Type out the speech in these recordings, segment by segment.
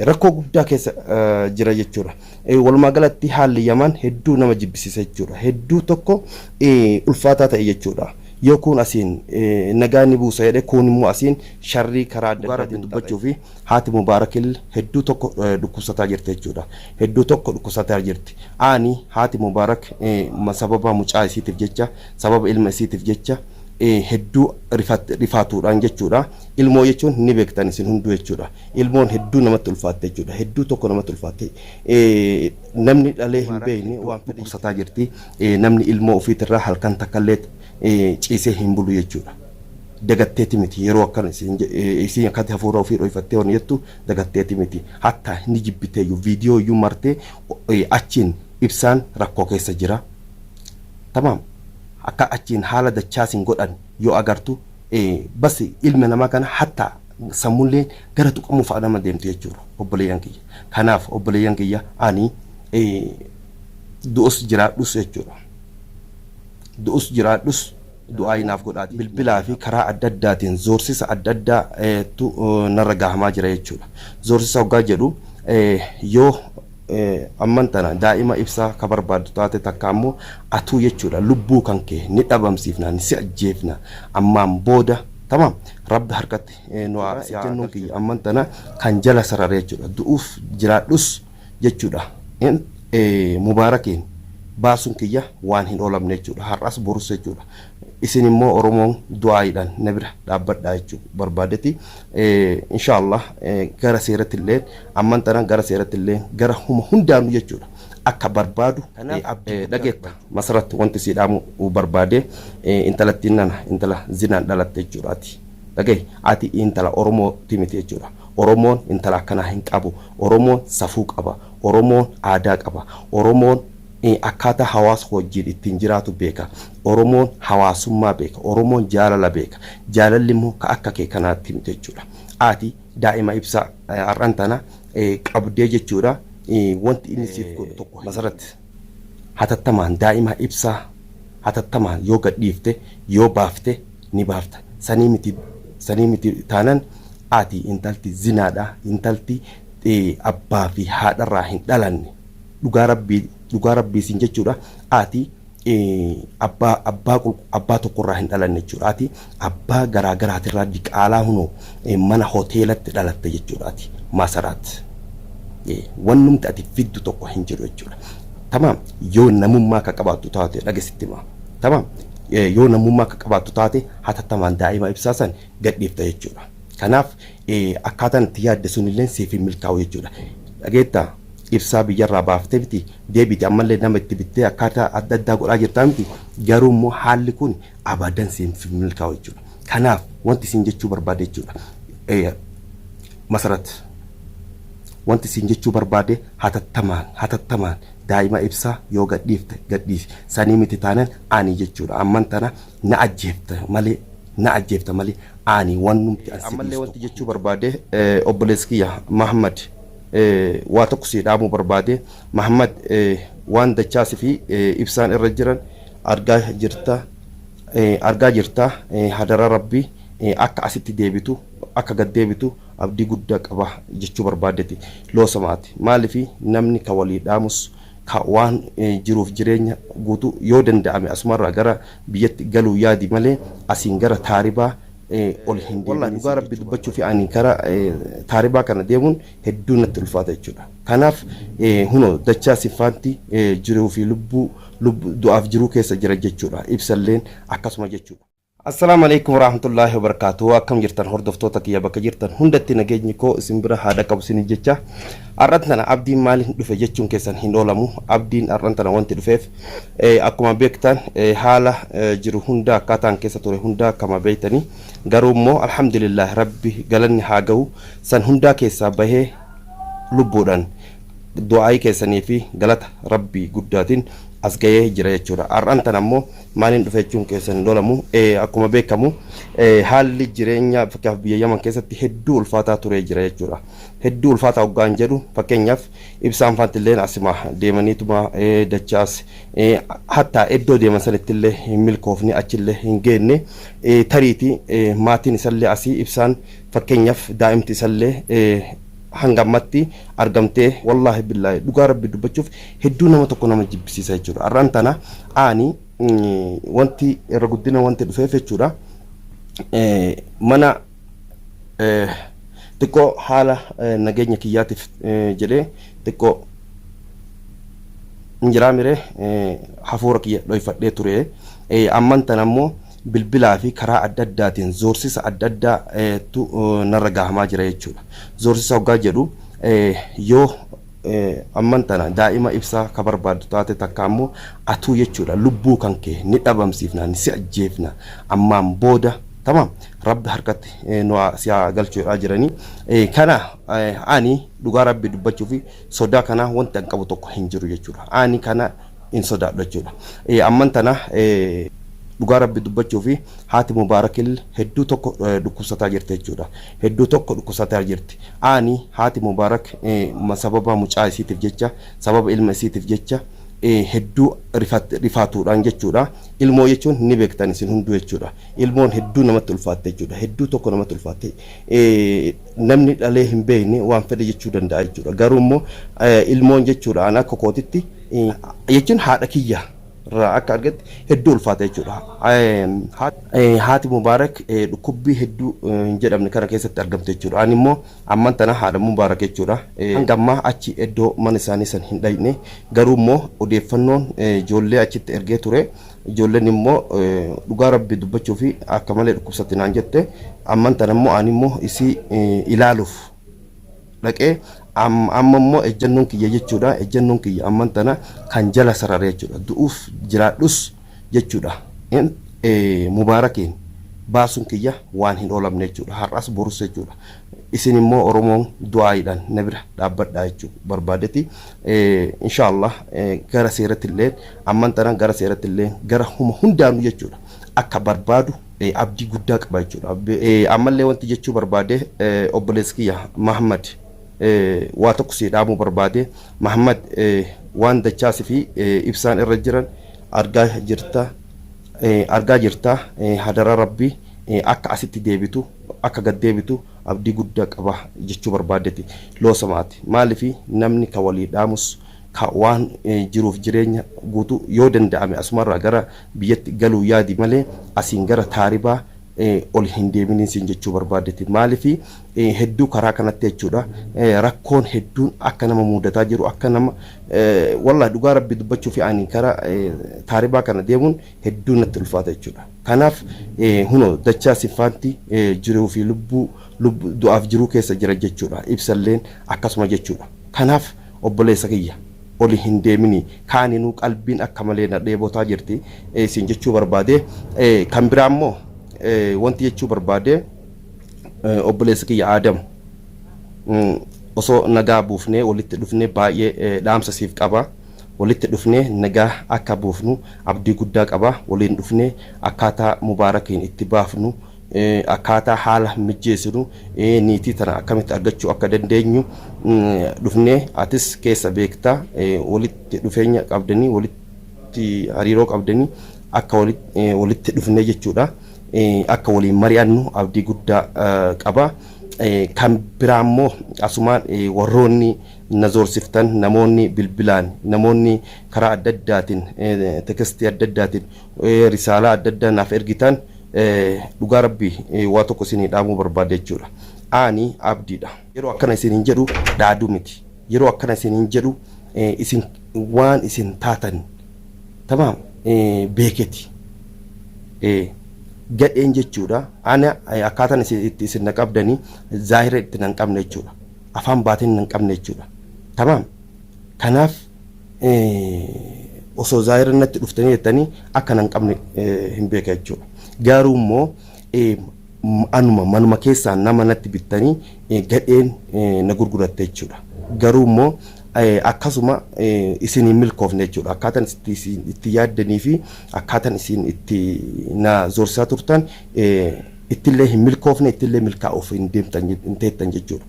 rakkoo guddaa keessa jira jechuudha. Walumaa galatti haalli Yaman hedduu nama jibbisiisa jechuudha. Hedduu tokko ulfaataa ta'e jechuudha. Yoo kuun asiin nagaa ni buusa jedhe kuun immoo asiin sharrii karaa adda addaa irratti dubbachuu fi haati Mubaarakil hedduu tokko dhukkubsataa jirti jechuudha. Hedduu tokko dhukkubsataa jirti. Aani haati Mubaarak sababa mucaa isiitiif jecha sababa ilma isiitiif jecha hedduu rifaatuudhaan jechuudha. Ilmoo jechuun ni beektan isin hunduu jechuudha. Ilmoon hedduu namatti ulfaatte jechuudha. Hedduu tokko namatti ulfaatte. Namni dhalee hin beekne waan dhukkubsataa jirti. Namni ilmoo ofiitirraa halkan takkallee ciisee hin bulu jechuudha. Dagatteeti miti yeroo akkana isiin akkatti hafuura ofii dho'ifattee waan jettu dagatteeti miti. Hatta ni jibbiteeyyu viidiyoo iyyuu martee achiin ibsaan rakkoo keessa jira. Tamaam. akka achiin haala dachaa sin godhan yoo agartu bas ilma namaa kana hatta sammulleen gara tuqamuu fa'a nama deemtu jechuudha obboleeyyan kiyya kanaaf obboleeyyan kiyya ani du'us jiraadhus jechuudha du'us jiraadhus du'aayi naaf godhaati bilbilaa fi karaa adda addaatiin zoorsisa adda addaa tu narra gahamaa jira jechuudha zoorsisa hoggaa jedhu yoo Amman tana daa'ima ibsa ka barbaaddu taate takka ammoo atuu jechuudha lubbuu kan kee ni dhabamsiifna ni si ajjeefna ammaan booda tamaam rabbi harkatti nu haa si jennuun kiyya amman tana kan jala sarare jechuudha du'uuf jiraadhus jechuudha Mubaarakiin baasuun kiyya waan hin oolamne jechuudha har'as borus jechuudha Isin immoo Oromoon du'aa'iidhaan na bira dhaabbadhaa jechuu barbaadeti. Inshaa Allah gara seeratti illee amman tana gara seeratti illee gara huma hundaanuu jechuudha akka barbaadu dhageetta. Masarat wanti sii dhaamuu barbaade intalattiin nana intala zinaan dhalatte jechuudha ati. Dhagahi ati intala Oromooti miti jechuudha. Oromoon intala akkanaa hin qabu. Oromoon safuu qaba. Oromoon aadaa qaba. Oromoon akkaataa hawaasa wajjin ittiin jiraatu beeka. Oromoon hawaasummaa beeka. Oromoon jaalala beeka. Jaalalli immoo ka akka kee kanaatti miti jechuudha. Ati daa'ima ibsaa har'an tana qabdee jechuudha. Wanti inni siif godhu tokko hin Masarat, hatattamaan daa'ima ibsaa hatattamaan yoo gad dhiifte, yoo baafte ni baafta. Sanii miti sanii miti taanan ati intalti zinaadha, intalti abbaa fi haadharraa hin dhalanne. Dhugaa Rabbii dhugaa Rabbii siin jechuudha. Ati abbaa abbaa abbaa tokko irraa hin dhalanne jechuudha ati abbaa garaa garaati irraa diqaalaa hunoo mana hoteelatti dhalatte jechuudha ati maasaraat wannumti ati fiddu tokko hin jiru jechuudha tamaam yoo namummaa akka qabaattu taate dhagesitti maa tamaam yoo namummaa akka qabaattu taate hatattamaan daa'ima ibsaa san gadhiifta jechuudha kanaaf akkaataan itti yaadde sunillee siif hin milkaa'u jechuudha dhageettaa ibsaa biyyarraa baaftee miti deebite ammallee nama itti bittee akkaataa adda addaa godhaa jirtaa miti garuu immoo haalli kun abadan siif hin milkaa'u jechuudha kanaaf wanti siin jechuu barbaade jechuudha Eh, masarat wanti siin jechuu barbaade hatattamaan hatattamaan daa'ima ibsaa yoo gadhiifte gadhiisi sanii miti taanan ani jechuudha amman tana na ajjeefta malee na ajjeefta malee ani wannumti an si ammallee wanti jechuu barbaade eh, obboleessi kiyya Mahammad waa tokko sii dhaamuu barbaade Mahammad waan dachaa sifi ibsaan irra jiran argaa jirta argaa jirta hadara rabbi akka asitti deebitu akka gad deebitu abdii gudda qaba jechuu barbaadeti loosamaati maalifi namni ka walii dhaamus ka waan jiruuf jireenya guutu yoo danda'ame asumarraa gara biyyatti galuu yaadi malee asiin gara taaribaa ol hin deebine. Wallahi dhugaa rabbi dubbachuufi ani gara taaribaa kana deemuun hedduu natti ulfaata jechuudha. Kanaaf huno dachaa sinfaanti jiruu fi lubbuu du'aaf jiruu keessa jira jechuudha. Ibsalleen akkasuma jechuudha. Assalaamu aleykum waraahmatullaahi wabarakaatuhu akkam jirtan hordoftoota kiyya bakka jirtan hundatti nageenyi koo isin bira haa dhaqqabu isiniin jecha har'an tana abdiin maaliin dhufe jechuun keessan hin oolamu abdiin har'an tana wanti dhufeef Akkuma beektan haala jiru hundaa akkaataan keessa ture hundaa akkama beektani garuu immoo alhamdulillah rabbi galanni haa gahu san hundaa keessaa bahee lubbuudhan du'aa'ii keessanii fi galata rabbii guddaatiin as gahee jira jechuudha har'an tan ammoo maaliin dhufe jechuun keessan hin oolamu akkuma beekamu haalli jireenya fakkeenyaaf biyya yaman keessatti hedduu ulfaataa turee jira jechuudha hedduu ulfaataa hoggaan jedhu fakkeenyaaf Ibsaan faantilleen asima deemaniituma dachaas hattaa iddoo deeman sanittillee hin milkoofne achillee hin geenne tariiti maatiin isallee asii ibsaan fakkeenyaaf daa'imti isallee hanga ammatti argamtee wallaahi billaahi dhugaa rabbi dubbachuuf hedduu nama tokko nama jibbisiisa jechuudha har'aan tana aani wanti irra guddina wanti dhufeef jechuudha mana xiqqoo haala nageenya kiyyaatiif jedhee xiqqoo hin jiraa miree hafuura kiyya dhoyfadhee ture amman tan ammoo bilbilaa fi karaa adda addaatiin zoorsisa adda addaa tu narra gahamaa jira jechuudha. Zoorsisa hoggaa jedhu yoo Amman tana daa'ima ibsaa ka barbaaddu taate takka ammoo atuu jechuudha lubbuu kan kee ni dhabamsiifna ni si ajjeefna ammaan booda tamam rabbi harkatti nu haa si haa galchu jedhaa jiranii kana ani dhugaa rabbi dubbachuufi sodaa kanaa wanti an qabu tokko hin jiru jechuudha ani kana hin sodaadhu jechuudha amman tana dhugaa rabbi dubbachuufi haati mubaarakil hedduu tokko dhukkubsataa jirti jechuudha Hedduu tokko dhukkusataa jirti. Aani haati Mubarak sababa mucaa isiitif jecha, sababa ilma isiitif jecha hedduu rifaatuudhaan jechuudha. Ilmoo jechuun ni beektan isin hunduu jechuudha. Ilmoon hedduu namatti ulfaatte jechuudha. Hedduu tokko namatti ulfaatte. Namni dhalee hin beekne waan fedhe jechuu danda'a jechuudha. Garuu immoo ilmoon jechuudha an akka kootitti jechuun haadha kiyya. irraa akka argetti hedduu ulfaata jechuudha. Haati Mubaarak dhukkubbii hedduu hin jedhamne kana keessatti argamte jechuudha. Ani immoo amman tana haadha Mubaarak jechuudha. Hanga ammaa achi iddoo mana isaanii san hin dhayne garuu immoo odeeffannoon ijoollee achitti ergee ture ijoolleen immoo dhugaa rabbi dubbachuu fi akka malee dhukkubsatti naan jette amman tana immoo ani immoo isii ilaaluuf dhaqee amma immoo ejjannoon kiyya jechuudha ejjannoon kiyya amman tana kan jala sarare jechuudha du'uuf jiraadhus jechuudha mubaarakiin baasuun kiyya waan hin oolamne jechuudha har'as borus jechuudha isin immoo oromoon du'aayiidhaan na bira dhaabbadhaa jechuu barbaadeti inshaallah gara seeratti illee amman tana gara seeratti illee gara huma hundaanuu jechuudha akka barbaadu abdii guddaa qaba jechuudha. Ammallee wanti jechuu barbaade obboleessa kiyya Mahammad waa tokko sii dhaamuu barbaade Mahammad waan dachaa sifi ibsaan irra jiran argaa jirta argaa jirta hadara rabbi akka asitti deebitu akka gad deebitu abdii guddaa qaba jechuu barbaadeti loosamaati maalifi namni ka walii dhaamus ka waan jiruuf jireenya guutu yoo danda'ame asumarraa gara biyyatti galuu yaadi malee asiin gara taaribaa ol hin deeminiin siin jechuu barbaadeti maalifi hedduu karaa kanatti jechuudha rakkoon hedduun akka nama muudataa jiru akka nama wallahi dhugaa rabbi dubbachuufi ani kara taaribaa kana deemuun hedduu natti ulfaata jechuudha kanaaf huno dachaa siffaanti jiruu fi lubbuu du'aaf jiruu keessa jira jechuudha ibsalleen akkasuma jechuudha kanaaf Obboleessa kiyya oli hin deeminii kaaninuu qalbiin akka malee na dheebotaa jirti siin jechuu barbaadee kan biraa immoo wanti jechuu barbaadee obboleessa kiyya Aadam osoo nagaa buufnee walitti dhufnee baay'ee dhaamsa siif qaba walitti dhufnee nagaa akka buufnu abdii guddaa qaba waliin dhufnee akkaataa mubaarakiin itti baafnu akkaataa haala mijjeessinu, niitii tana akkamitti argachuu akka dandeenyu dhufnee atis keessa beekta walitti dhufeenya qabdanii walitti hariiroo qabdanii akka walitti dhufnee jechuudha akka waliin mari'annu abdii guddaa qaba. Kan biraa immoo asumaan warroonni na zoorsiftan namoonni bilbilaan namoonni karaa adda addaatiin tekestii adda addaatiin risaalaa adda addaa naaf ergitaan dhugaa rabbi waa tokko isinii dhaamuu barbaada jechuudha aani abdiidha. Yeroo akkana isiniin jedhu dhaaduu miti yeroo akkana isiniin jedhu isin waan isin taatan tamaam beeketi gadheen jechuudha ana akkaataan itti isin na qabdanii zaahira itti nan qabne jechuudha afaan baatiin nan qabne jechuudha tamaam kanaaf osoo zaahiran natti dhuftanii jettanii akka nan qabne hin beeka jechuudha. Garuu immoo anuma manuma keessaa nama natti bittanii gadheen na gurguratte jechuudha. Garuu immoo akkasuma isin hin milkoofne jechuudha. Akkaataan itti yaaddanii fi akkaataan isin itti na zorsaa turtan ittillee hin milkoofne ittillee milkaa'uuf hin deemtan hin teettan jechuudha.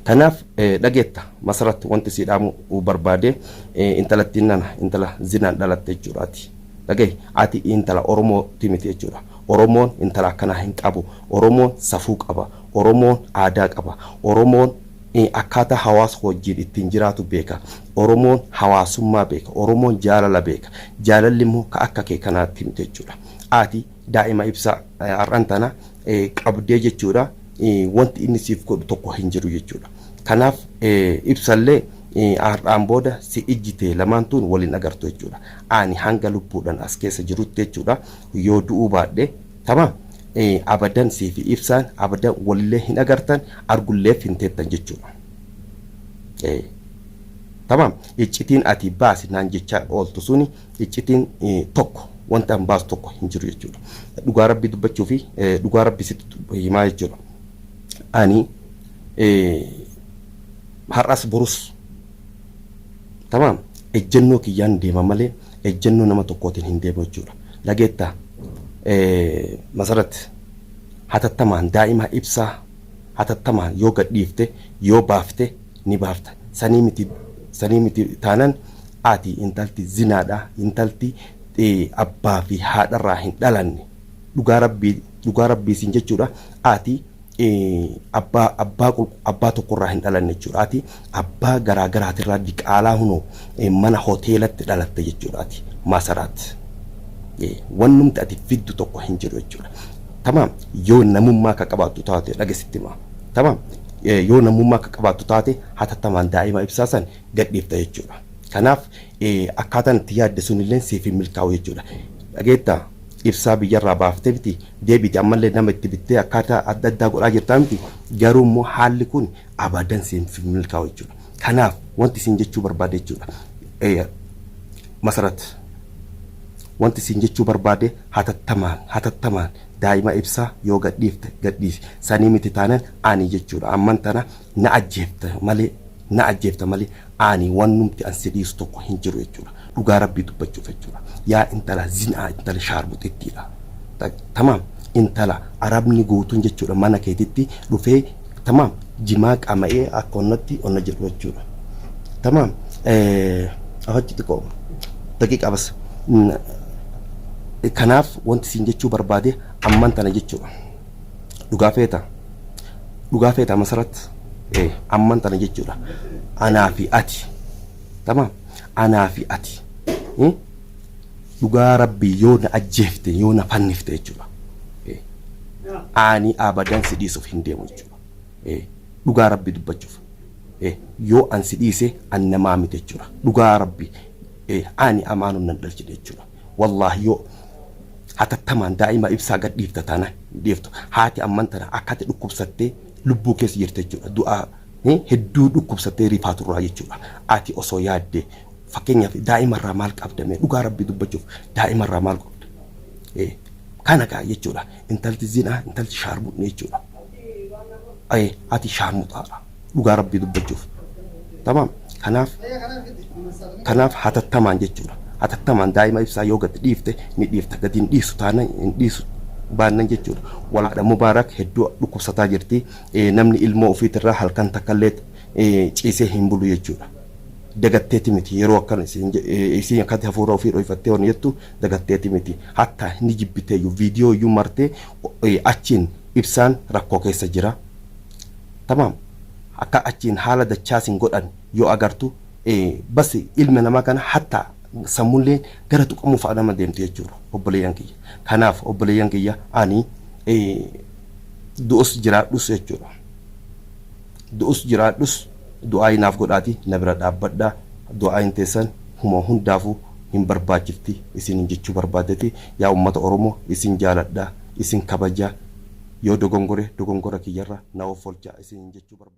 Kanaaf dhageetta Masarat wanti sii dhaamu barbaade intalattiin nana intala zinaan dhalatte jechuudha ati dhagahi ati intala Oromoo ti miti jechuudha Oromoon intala akkanaa hin qabu Oromoon safuu qaba Oromoon aadaa qaba Oromoon akkaataa hawaasa wajjiin ittiin jiraatu beeka Oromoon hawaasummaa beeka Oromoon jaalala beeka jaalalli immoo ka akka kee kanaatti miti jechuudha ati daa'ima ibsa har'an tana qabdee jechuudha wanti inni siif godhu tokko hin jiru jechuudha. Kanaaf ibsallee har'aan booda si ijji tee lamaan tuun waliin agartu jechuudha. Ani hanga lubbuudhaan as keessa jirutti jechuudha yoo du'uu baadhe tama abadan sii fi ibsaan abadan walillee hin agartan argulleef hin teettan jechuudha. Tamaam iccitiin ati baasi naan jechaa ooltu suni Iccitiin tokko wanti an baasu tokko hin jiru jechuudha. Dhugaa rabbii dubbachuu fi dhugaa rabbii sitti himaa jechuudha. Ani har'as borus tamaam ejjennoo kiyyaan deema malee ejjennoo nama tokkootiin hin deemu jechuudha. Dhageettaa masarat hatattamaan daa'imaa ibsaa hatattamaan yoo gadhiifte yoo baafte ni baafta sanii miti sanii miti taanan ati intalti zinaadha intalti abbaa fi haadharraa hin dhalanne dhugaa rabbii dhugaa rabbii siin jechuudha ati abbaa abbaa abbaa tokkorraa hin dhalanne jechuudha ati abbaa garaa garaatirraa diqaalaa hunoo mana hoteelatti dhalatte jechuudha ati maasaraat wannumti ati fiddu tokko hin jiru jechuudha tamaam yoo namummaa ka qabaattu taate dhagesitti maa tamaam Yoo namummaa akka qabaattu taate hatattamaan daa'ima ibsaa san gadhiifta jechuudha. Kanaaf akkaataan itti yaadde sunilleen siif hin milkaa'u jechuudha. Dhageettaa? Ibsaa biyyarraa baaftee miti deebiite ammallee nama itti bittee akkaataa adda addaa godhaa jirtaa miti garuu immoo haalli kun abadan siif hin milkaa'u jechuudha. Kanaaf wanti isin jechuu barbaade jechuudha. Masarat wanti isin jechuu barbaade hatattamaan hatattamaan Daa'ima ibsaa yoo gadhiifte gadhiisi. Sanii miti taanan Aanii jechuudha. Amman tana na ajjeefta malee na ajjeefta malee Aanii wannumti an si dhiisu tokko hin jiru jechuudha. Dhugaa Rabbii dubbachuuf jechuudha. Yaa intala zinaa intala shaarmuxittiidha. Tamaam intala arabni guutuun jechuudha mana keetitti dhufee Tamaam jimaa qaama'ee akka onnatti onna jedhu jechuudha. Tamaam afachi xiqqoo daqiiqaa bas. Kanaaf wanti siin jechuu barbaade amman tana jechuudha. Dhugaa feeta. Dhugaa feeta masarat. Amman tana jechuudha. Anaa fi ati. Tamaam anaa fi ati. Dhugaa rabbii yoo na ajjeefte yoo na fannifte jechuudha aanii abadan si dhiisuf hin deemu jechuudha dhugaa rabbii dubbachuuf yoo an si dhiise an namaa miti jechuudha dhugaa rabbii aanii amaanun nan dhalchine jechuudha wallaahi yoo hatattamaan daa'ima ibsaa gad dhiifta taana dhiiftu haati amman tana akkati dhukkubsattee lubbuu keessa jirte jechuudha du'aa hedduu dhukkubsattee rifaaturraa jechuudha ati osoo yaaddee Fakkeenyaaf daa'ima irraa maal qabda mee dhugaa rabbii dubbachuuf daa'ima irraa maal qabda? Ee, Kana kaa jechuudha intalti zinaa intalti shaarmuxni jechuudha. Ee, Ati shaarmuxaadha dhugaa rabbii dubbachuuf. Tamaam kanaaf kanaaf hatattamaan jechuudha hatattamaan daa'ima ibsaa yoo gad dhiifte ni dhiifta gad hin dhiisu taana hin dhiisu baannan jechuudha. Walaadha Mubaarak hedduu dhukkubsataa jirti Ee, namni ilmoo ofiitirraa halkan takkallee ee, ciisee hin bulu jechuudha. dagatteeti miti yeroo akkana isiin je- eh, isiin akkatti hafuura ofii dhoyfattee waan jettu dagatteeti miti hatta ni jibbiteeyyu viidiyoo iyyuu martee o- eh, achiin ibsaan rakkoo keessa jira tamaam akka achiin haala dachaa isin godhan yoo agartu eh, bas ilma namaa kana hatta sammullee gara tuqamuu fa'a nama deemtu jechuudha obboleeyyan kiyya kanaaf obboleeyyan kiyya ani eh, du'us jiraadhus jechuudha Du'us jiraadhus du'aa'ii naaf godhaati na bira dhaabbadhaa du'aa'iin teessan huma hundaafu hin barbaachifti isinin jechuu barbaadeti yaa ummata oromo isin jaaladha isin kabaja yoo dogongore dogongora kiyyarra na offolcha isinin jechuu barbaadeti.